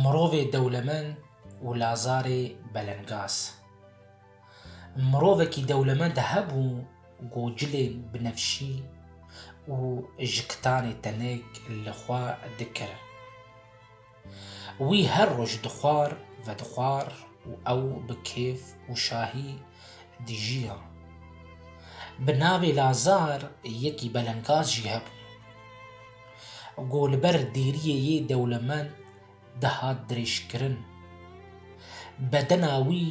Mirovê dewlemend û lazarê belengaz. Mirovekî dewlemend hebû ku cilên binefşî û ji kitanê tenik li xwe dikir. Wî her roj dixwar vedixwar û ew bi kêf û şahî dijiya. Bi navê Lazar yekî belengaz jî hebû. Ku li ber dêriyê yê dewlemend dihat dirêjkirin. Bedena wî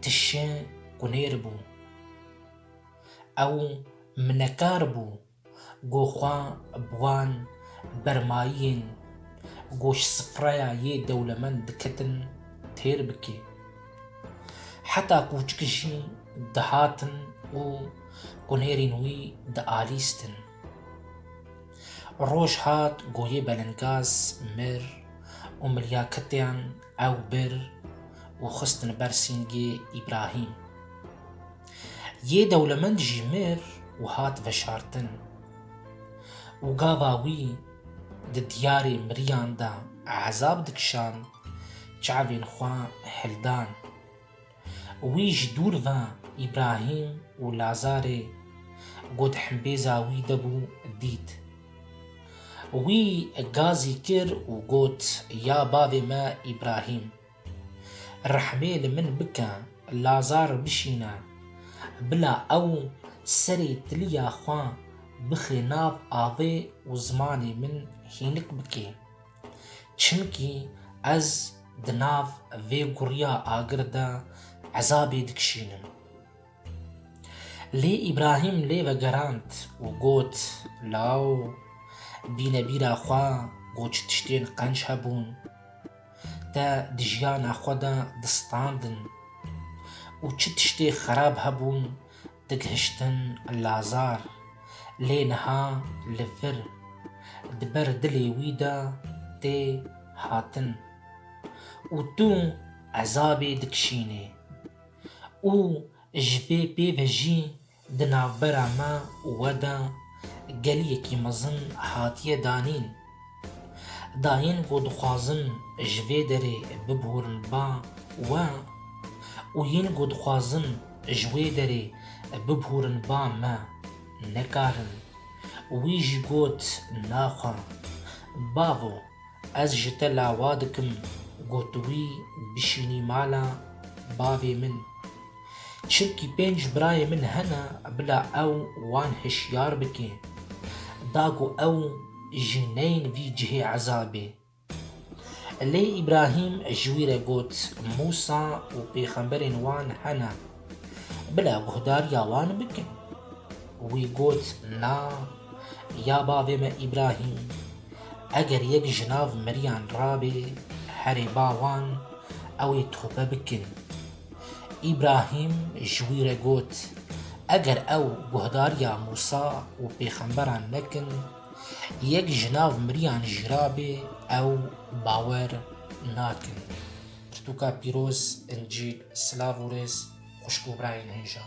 tişê kunêr bû. Ew minekar bû. Ku xwe bi wan bermayiyên goşsifreya yê dewlemend diketin têr bike. Heta kûçik jî dihatin û kunêrên wî dialîstin. Roj hat goyê belengaz mir û milyaketeyan ew bir û xistin ber sîngê Îbrahîm. Yê dewlemend jî mir û hat veşartin û gava wî di diyarê miriyan de ezab dikişand, çavên xwe hildan. Wî ji dûr ve Îbrahîm û Lazarê ku di himbêza wî de bû dît. Wî gazî kir û got, Ya bavê me Îbrahîm! Rehmê li min bike Lazar bişîne. Bila ew serê tiliya xwe bixê nav avê û zimanê min hînik bike. Çimkî ez di nav vê guriya agir de ezabê dikişînim. Lê Îbrahîm lê vegerand û got, Law, bîne bîra xwe ku çi tiştên qenc hebûn. te di jiyana xwe de distandin û çi tiştê xerab hebûn digihiştin lazar lê niha li vir di ber dilê wî de tê hatin û tu ezabê dikişînê û ji vê pê ve jî Di navbera me û we de geliyekî mezin hatiye danîn. Dayên ku dixwazin ji vê derê biborin ba we û yên ku dixwazin ji wê derê biborin ba me nekarin. Wî jî got naxwe. Bavo, ez ji te lawa dikim ku tu wî bişînî mala bavê min. Çimkî pênc birayê min hene bila ew wan hişyar bike. Da ku ew jî neyên vî cihê ezabê. Lê Îbrahîm ji wî re got, Mûsa û pêxemberên wan hene. Bila guhdariya wan bikin. Wî got, Na, ya bavê me Îbrahîm, eger yek ji nav miriyan rabê, herê ba wan, ew ê tobe bikin. Îbrahîm ji wî re got, Eger ew guhdariya Mûsa û pêxemberan nekin, yek ji nav miriyan jî rabê ew bawer nakin. Pirtûka pîroz, Încîl, Silav û rêz xwişk û birayên hêja.